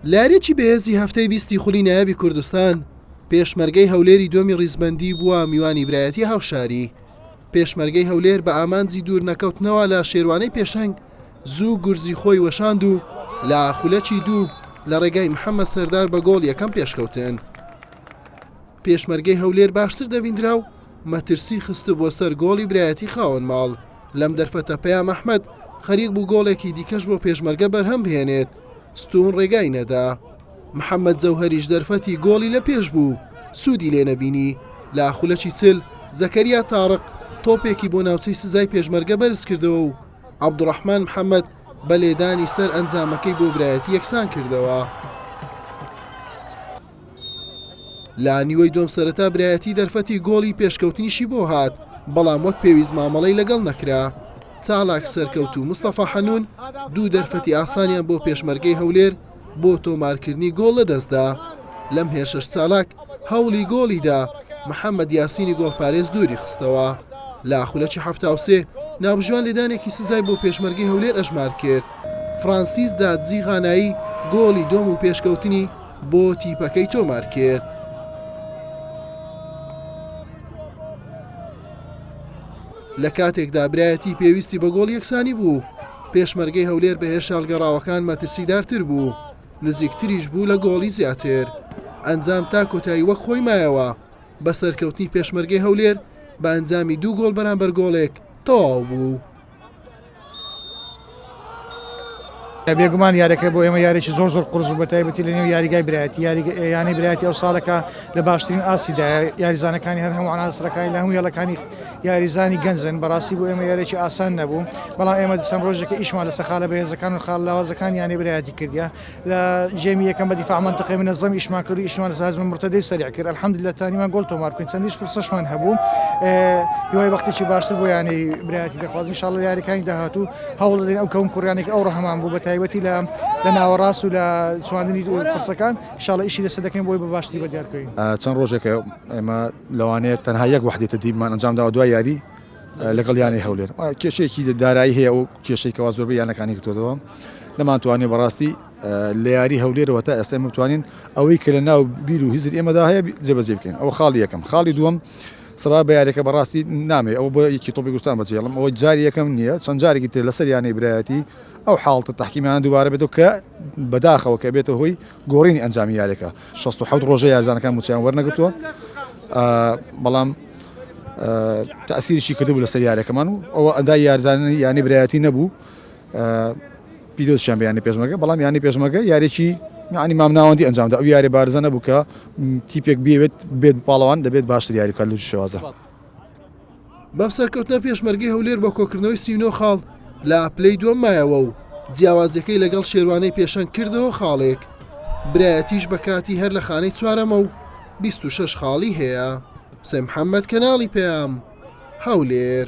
لەیاریی بەهێزی هەفتەی بیستی خولی نایابی کوردستان، پێشمەرگەی هەولێری دووەمی ڕیزبەندی بووە میوانی برایەتی هاوشاری. پێشمەرگەی هەولێر بە ئامانجی دوور نەکەوتنەوە لە شێروانەی پێشەنگ، زوو گورزی خۆی وەشاند و لە خولەکی دوو لە ڕێگای محەممەد سەردار بە گۆڵ یەکەم پێشکەوتن. پێشمەرگەی هەولێر باشتر دەبیندرا و مەترسی خستبووە سەر گۆڵی برایەتی خاوەن ماڵ، لەم دەرفەتە پەیام ئەحمەد خەریک بوو گۆڵێکی دیکەش بۆ پێشمەرگە بەرهەم بهێنێت، ستوون ڕێگای نەدا. محەممەد جەوهەریش دەرفەتی گۆڵی لە پێش بوو، سوودی لێ نەبینی، لە خولەکی چل زەکەریا تاڕق تۆپێکی بۆ ناوچەی سزای پێشمەرگە بەرز کردەوە و عەبدوڕەحمان محەممەد بە لێدانی سەر ئەنجامەکەی بۆ برایەتی یەکسان کردەوە. لە نیوەی دووەم سەرەتا برایەتی دەرفەتی گۆڵی پێشکەوتنیشی بۆ هات، بەڵام وەک پێویست مامەڵەی لەگەڵ نەکرا. چالاک سەرکەوت و مستەفا حەنون دوو دەرفەتی ئاسانیان بۆ پێشمەرگەی هەولێر بۆ تۆمارکردنی گۆڵ لەدەستدا. لەم هێرشەش چالاک هەوڵی گۆڵی دا، محەمەد یاسینی گۆڵپارێز دووری خستەوە. لە خولەکی حەفتا و سێ، ناوبژیوان لێدانێکی سزای بۆ پێشمەرگەی هەولێر ئەژمار کرد. فرانسیس دادزی غانایی گۆڵی دووەم و پێشکەوتنی بۆ تیپەکەی تۆمار کرد. لە کاتێکدا برایەتی پێویستی بە گۆڵ یەکسانی بوو پێشمەرگەی هەولێر بە هێرشە هەڵگەڕاوەکان مەترسیدارتر بوو نزیکتریش بوو لە گۆڵی زیاتر ئەنجام تا کۆتایی وەک خۆی مایەوە بە سەرکەوتنی پێشمەرگەی هەولێر بە ئەنجامی دوو گۆڵ بەرامبەر گۆڵێک تەواو بوو. بێگومان یاریەکە بۆ ئێمە یاریی زۆر زۆر قرس و بەتایبەتی لە نێو یاریگای برایەتی یارییانەی برایەتی ئەو ساڵەکە لە باشترین ئاسیدا یاریزانەکانی هەر هەموو عناسەکانی لە هەموو یاڵەکانی یاریزانی گەنجن بەڕاستی بۆ ئێمە یارێکی ئاسان نەبوو بەڵام ئێمە دیسان ڕۆژێکە ئیشمان لە سەخالە بەهێزەکان و خاڵ لاوازەکان یانەی برایەتی کردیا لە جێمی یەکەم بە دیفاع مەنتقەی منەزەم ئیشمان کرد و ئیشمان لەسەر هەزمە مرتەدەی سەریع کرد الحمدللە توانیمان گۆڵ تۆمار بکەین چەندیش فرسەشمان هەبوو هیوای بەختێکی باشتر بۆ یانەی برایەتی دەخوازین ان شاء الله لە یاریەکانی داهاتوو هەوڵ دەدەین ئەو کەون کوڕیانێک ئەو ڕەهەمان بوو بە تایبەتی لە لە ناوەڕاست و لە چواندنی فرسەکان ان شاء الله ئیشی لەسەر دەکەین بۆی بە باشتری بە دیار بکەین چەند ڕۆژێکە ئێمە لەوانەیە تەنها یەک وحدەی تدریبمان ئەنجام داوە دوای یاری لەگەڵ یانەی هەولێر کێشەیەکی دارایی هەیە و کێشەی کەوا زۆربەی یانەکانی گرتوەوە نەمانتوانانی بەڕاستی لە یاری هەولێرەوە تا ئێستا متوانین ئەوەی کە لە ناو بیر و هزر ئێمەدا هەیە جێبەجێ بکەین ئەو خاڵی یەکەم خاڵی دووەم سەبا بە یارێکە بەڕاستی نامێ ئەو بۆ یەکی تۆپی گوستان بەجێڵم ئەوە جاری یەکەم نییە چەند جارێکی تر لەسەر یانەی برایەتی ئەو حاڵتە تحکیمیان دووبارە بێتەوە کە بەداخەوە کە بێتە هۆی گۆڕینی ئەنجامی یاریەکە شەست و حەوت ڕۆژە یارزانەکان موچیان وەرنەگرتووە بەڵام تاسیریی کردبوو لەسەر یارەکەمان و ئەوە ئەدا یارزانانی یانی برایەتی نەبوو پیرۆزشیان بیانی پێشمەگە بەڵام یانی پێشمەگە یارێکی ینی مام ناوەندی ئەنجامدا ئەو یارێ بارزە نەبوو کە تیپێک بێت بێت پاڵەوان دەبێت باشتر یاری کە لە شێوازە. بەم سەرکەوتنە پێشمەرگەی هەولێر بۆ کۆکردنەوەی سی و نۆ خاڵ لە پلەی دووەم مایەوە و جیاوازیەکەی لەگەڵ شێروانەی پێشەنگ کردەوە خاڵێک برایەتیش بە کاتی هەر لە خانەی چوارەمە و 26 خاڵی هەیە حسێن محەممەد کەناڵی پەیام هەولێر